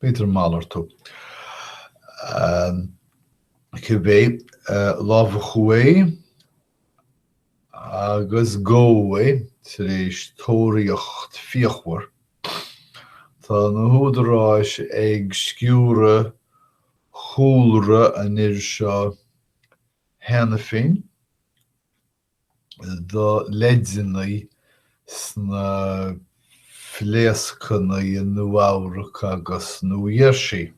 B'fhéidir malartú. Cibé, lámhachadh é agus gabhadh é tar éis tóraíocht fíochmhar. Tá na húdaráis ag sciúradh chúlra an fhir seo cheana féin. do leideanna sna pléascanna i Nua-Eabhrac agus New Jersey.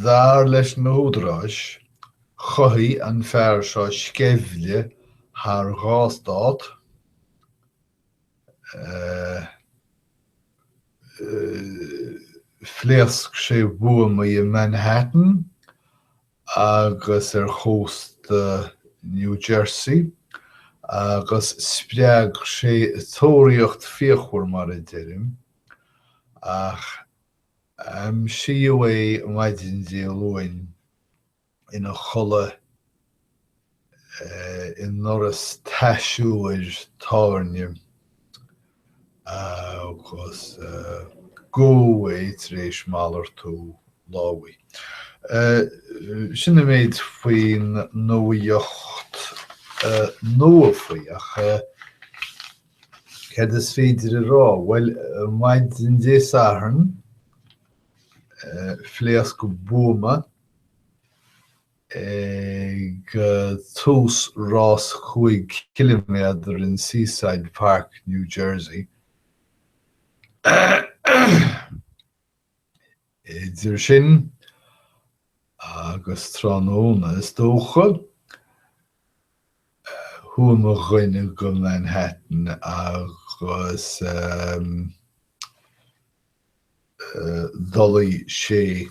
Dar leis na húdaráis, chothaigh an fear seo sceimhle thar dhá stát, Phléasc sé buamaí i Manhattan agus ar chósta New Jersey agus spreag sé tóraíocht fíochmhar, mar a deirim, ach aimsíodh é maidin Dé Luain. ina chodladh i ndoras taisiúir tábhairne agus gabhadh é tar éis malartú lámhaigh. Sin an méid faoin nuaíocht nua faoi. Ach cad is féidir a rá? Bhuel, maidin Dé Sathairn, phléasc buama. ag tús rás cúig chiliméadar in Seaside Park, New Jersey, idir sin agus tráthnóna is dócha, chuaigh mo dhuine go Manhattan agus d'fholaigh sé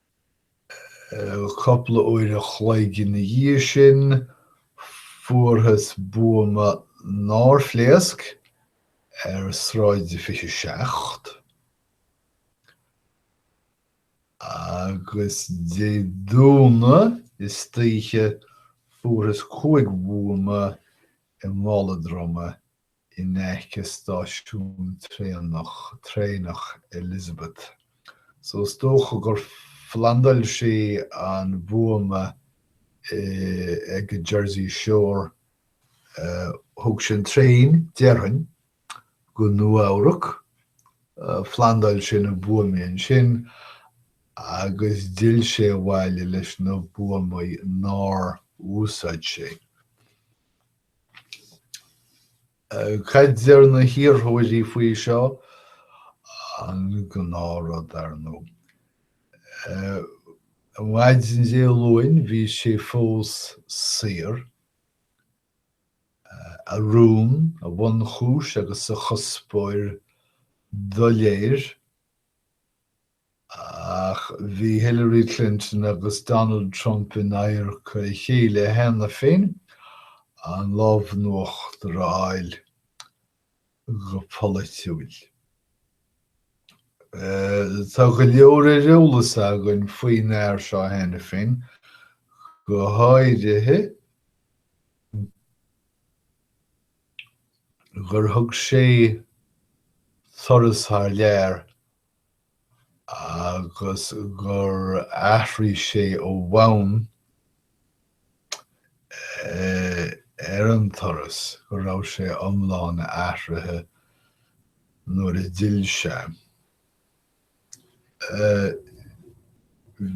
Cúpla uair a chloig ina dhiaidh sin fuarthas buama nár phléasc ar Shráid 27 agus Dé Domhnaigh istoíche fuarthas cúig bhuama i mála droma in aice stáisiún traenach Elizabeth so is dócha gur phlandáil sé an buama ag an Jersey Shore. Thóg sé an traein, déarfainn, go Nua-Eabhrac, phlandáil sé na buamaí ansin agus d'fhill sé abhaile leis na buamaí nár úsáid sé. Cad deir na hiarrthóirí faoi seo? An gnáth rud, ar ndóigh. Ar maidin Dé Luain bhí sé fós saor, a rún, a bhunchúis agus a chuspóir doiléir. Ach bhí Hillary Clinton agus Donald Trump in adharca a chéile cheana féin an lámh in uachtar a fháil go polaitiúil. Tá go leor ar eolas againn faoin bhfear seo cheana féin, go háirithe gur thug sé turas thar lear agus gur athraigh sé ó bhonn ar an turas, go raibh sé iomlán athraithe nuair a d'fhill sé.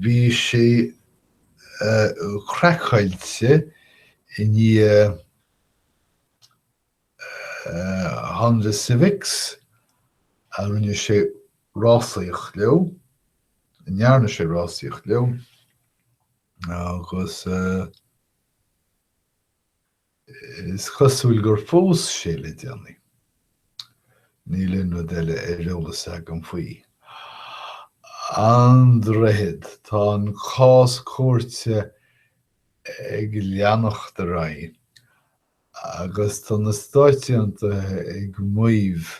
Bhí sé craiceáilte i ndiaidh Honda Civics a rinne sé rásaíocht leo, a ndearna sé rásaíocht leo agus is cosúil gur phós sé le déanaí. Níl aon rud eile ar eolas againn faoi. An Droichead, tá an cás cúirte ag leanacht ar aghaidh Agus tá na Stáit Aontaithe ag maíomh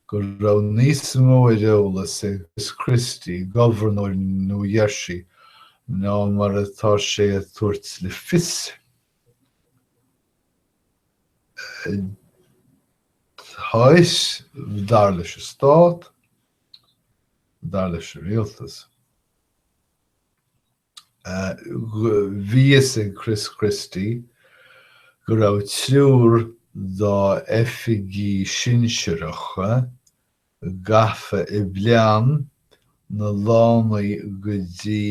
go raibh níos mó ar eolas ag Chris Christie, Governor New Jersey, ná mar atá sé ag tabhairt le fios. Tá a fhios, dar leis an Stát, dar leis an Rialtas. Bhí a fhios ag Chris Christie go raibh triúr dá oifigigh shinsearacha gafa i bplean na lánaí go dtí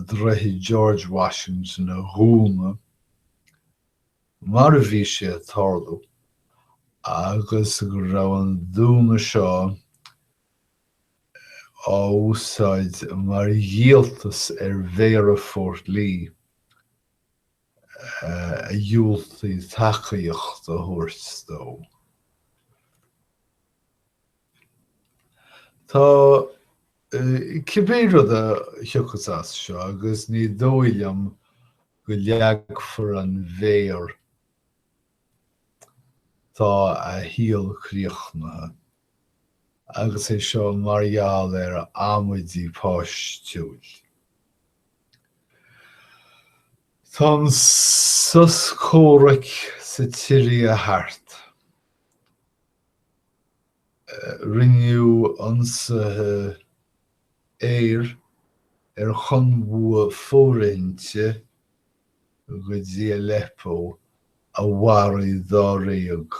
Droichead George Washington a dhúnadh mar a bhí sé ag tarlú agus go raibh an dúnadh seo á úsáid mar dhíoltas ar Mhéara Fort Lee a dhiúltaigh tacaíocht a thabhairt dó. Tá, cibé rud a thiocfas as seo, agus ní dóigh liom go leagfar an mhéar air, tá a shaol críochnaithe. agus é seo mar gheall ar amaidí páistiúil. Tá an sos comhraic sa tSiria thart. Rinneadh ionsaithe aeir ar chonbhua fóirithinte go dtí Aleppo a mharaigh dáréag.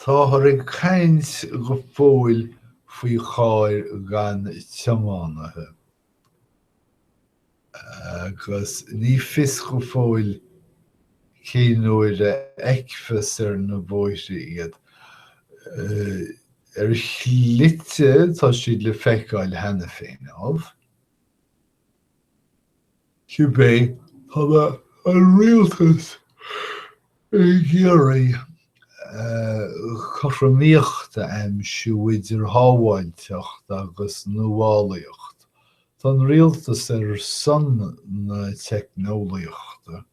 Táthar ag caint go fóill faoi chairr gan tiománaithe agus ní fios go fóill cén uair a fheicfeas ar na bóithre iad. Ar shlite tá siad le feiceáil cheana féin, ámh. Cibé, tá an Rialtas ag iarraidh cothromaíocht a aimsiú idir shábháilteacht agus nuálaíocht. Tá an Rialtas ar son na teicneolaíochta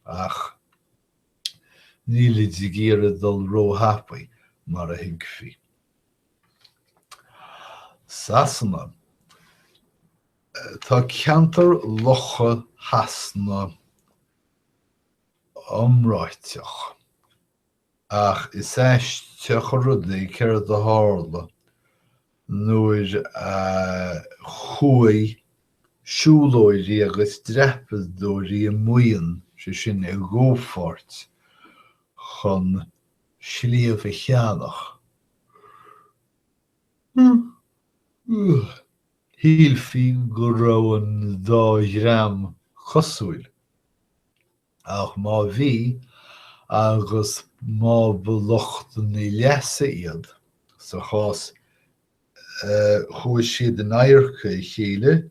ach nílid ag iarraidh dul róthapaidh mar a thuigfí. Sasana. Tá ceantar Locha Shasana iomráiteach, ach is aisteach an rud é céard a tharla nuair a chuaigh siúlóirí agus dreapadóirí i maoin, sé sin, i gcomhpháirt, chun. sliabh a cheannach. Shílfí go raibh an dá dhream cosúil, ach má bhí agus má ba lucht na leasa iad sa chás chuaigh siad in adharca a chéile,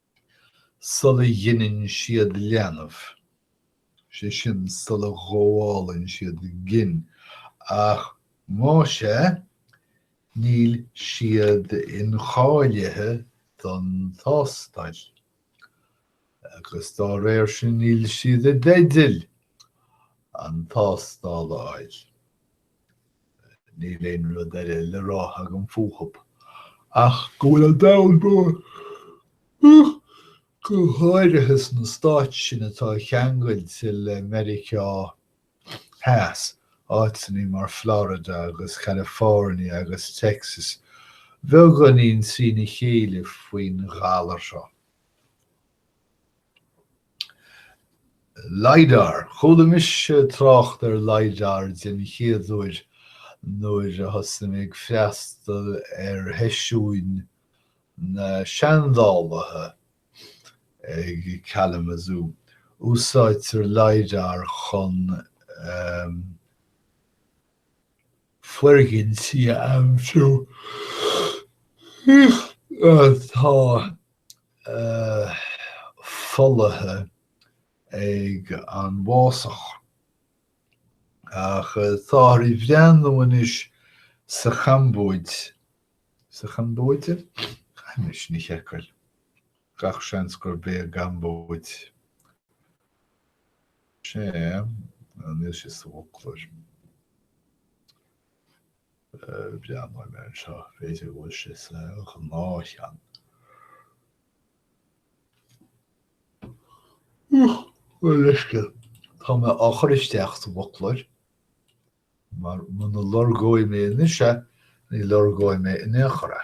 sula ghineann siad leanbh, sé sin sula ngabhálann siad gin, ach más é, níl siad incháilithe don tástáil, agus dá réir sin níl siad i dteideal an tástáil a fháil. Níl aon rud eile le rá agam fúthub ach go bhfuil an domhan, och, go háirithe sna stáit sin atá ceangailte le Meiriceá Theas, áiteannaí mar Florida agus California agus Texas, beagáinín trína chéile faoin ghalar seo. Lidar. Chuala mise trácht ar Lidar den chéad uair nuair a thosaigh mé ag freastal ar sheisiúin na seandálaithe ag Kalamazoo. Úsáidtear Lidar chun foirgintí a aimsiú atá folaithe ag an bhfásach. Ach táthar ag breathnú anois sa Chambóid, sa Chambóid? Caithfidh mé sin a sheiceáil. Gach seans gurb é an gCambóid. Sea, níl sé sa bhfoclóir. Breathnóidh mé anseo, b'fhéidir go bhfuil sé sa ngnáthcheann. Uch! Leisce! Tá mé á chur isteach sa bhfoclóir, mar muna lorgóidh mé anois é, ní lorgóidh mé in aon chor é.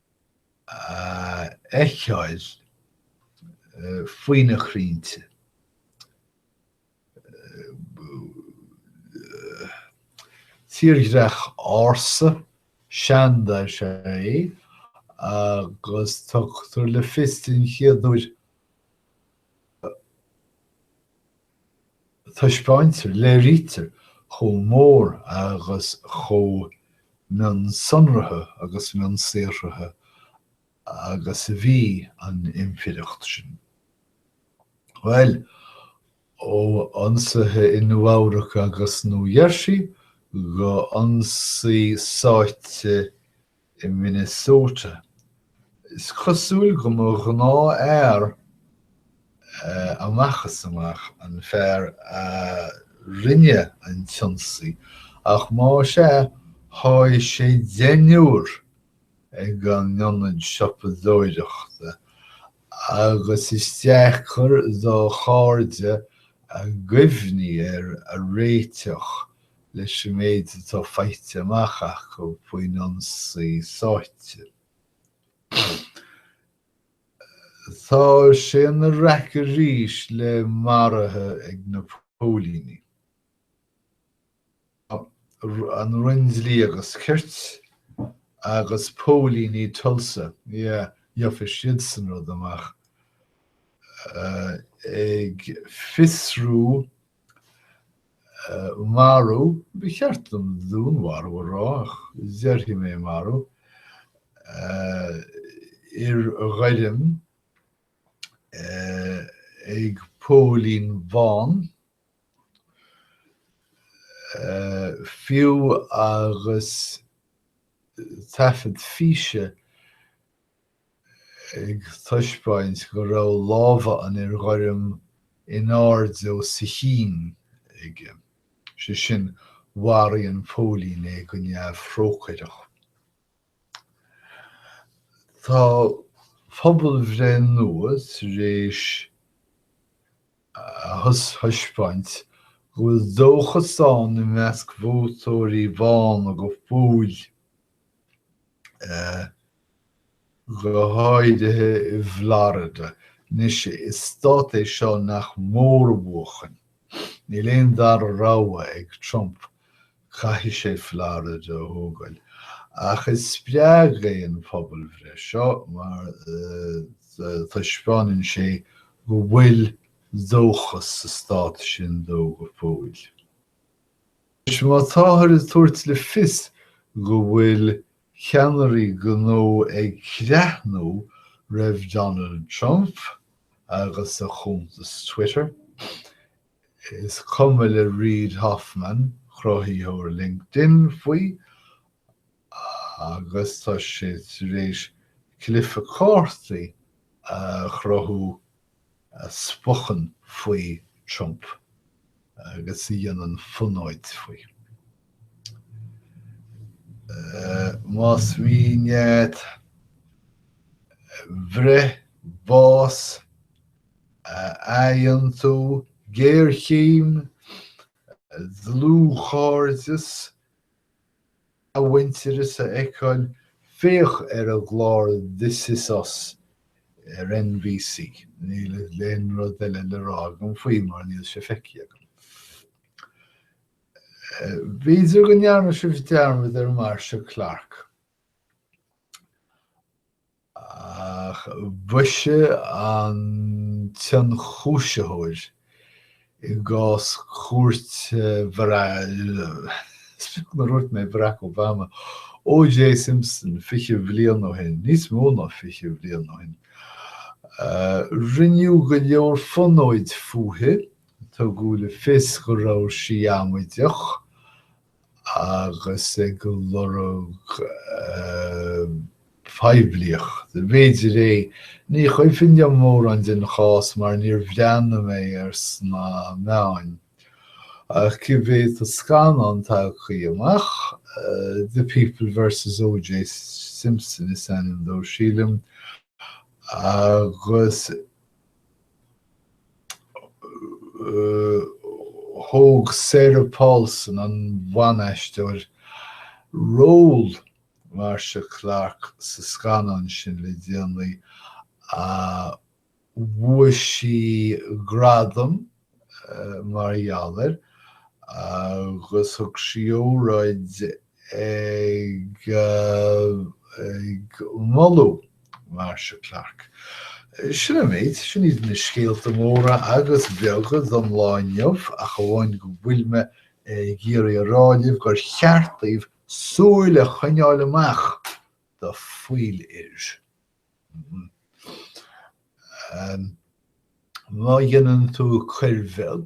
a fheiceáil faoi na crainnte. Tírdhreach ársa, seanda is ea é agus tugtar le fios den chéad uair Taispeáintear, léirítear chomh mór agus chomh mionsonraithe agus mionsaothraithe agus a bhí an impireacht sin. Bhuel, ó ionsaithe i Nua-Eabhrac agus Nua Gheirsí go hionsaí sáite i Minnesota. Is cosúil go mba ghnáth-fhear amach is amach an fear a rinne an t-ionsaí, ach más ea, sháigh sé deichniúr ag an ionad siopadóireachta, agus is deacair dá chairde a gcuimhní air a réiteach leis an méid atá faighte amach acu faoin ionsaí sáite. Tá sé ina raic arís le maruithe ag na póilíní. Tá an Roinn Dlí agus Cirt agus póilíní Tulsa, yeah, gheobhaidh siadsan rud amach, ag fiosrú marú, ba cheart dom dúnmharú a rá ach déarfaidh mé marú, fhir ghoirm ag póilín bán. Fiú agus taifead físe ag taispeáint go raibh lámha an fhir ghoirm in airde os a chionn aige, sé sin, mharaigh an póilín é go neamhthrócaireach. Tá pobalbhreith nua tar éis a thaispeáint go bhfuil dóchas ann i measc vótóirí bána go fóill. go háirithe i bhFlorida. Anois, is stát é seo nach mór a bhuachan. Níl aon dara rogha ag Trump, caithfidh sé Florida a thógáil. Ach is spreagadh é an phobalbhreith seo mar taispeánann sé go bhfuil dóchas sa stát sin dó go fóill. Anois, má táthar ag tabhairt le fios go bhfuil ceannairí gnó ag creathnú roimh Donald Trump agus a chuntas Twitter, is cuma le Reid Hoffman, cruthaitheoir LinkedIn, faoi. agus tá sé tar éis cluiche cártaí a chruthú a spochann faoi Trump agus a dhéanann fonóid faoi. Más mian leat breith, bás, athaontú, géarchéim, dlúthchairdeas i muintir a fheiceáil, féach ar an gclár This is Us ar NBC. Níl aon rud eile le rá agam faoi mar níl sé feicthe agam. B'fhéidir go ndearna sibh dearmad ar Marcia Clark. Ach b'ise an t-ionchúisitheoir i gcás cúirte, nár dhúirt mé Bharack Obama, OJ Simpson, fiche bhliain ó shin, níos mó ná fiche bhliain ó shin, rinneadh go leor fonóid fúithi, tugadh le fios go raibh sí amaideach agus ag lorg poiblíochta, b'fhéidir é. Ní cuimhin liom mórán den chás mar níor bhreathnaigh mé ar sna meáin. Ach cibé tá scannán tagthaí amach, The People versus OJ Simpson is ainm dó sílim, agus. thóg Sarah Paulson, an bhan-aisteoir, ról Marcia Clark sa scannán sin le déanaí. Bhuaigh sí gradam mar gheall air agus thug sí óráid ag moladh Marcia Clark. Sin an méid. Sin iad na scéalta móra agus beaga don lá inniu ach amháin go bhfuil mé ag iarraidh a rá libh gur cheart daoibh súil a choinneáil amach do fiolair. Má dhéanann tú coir bheag.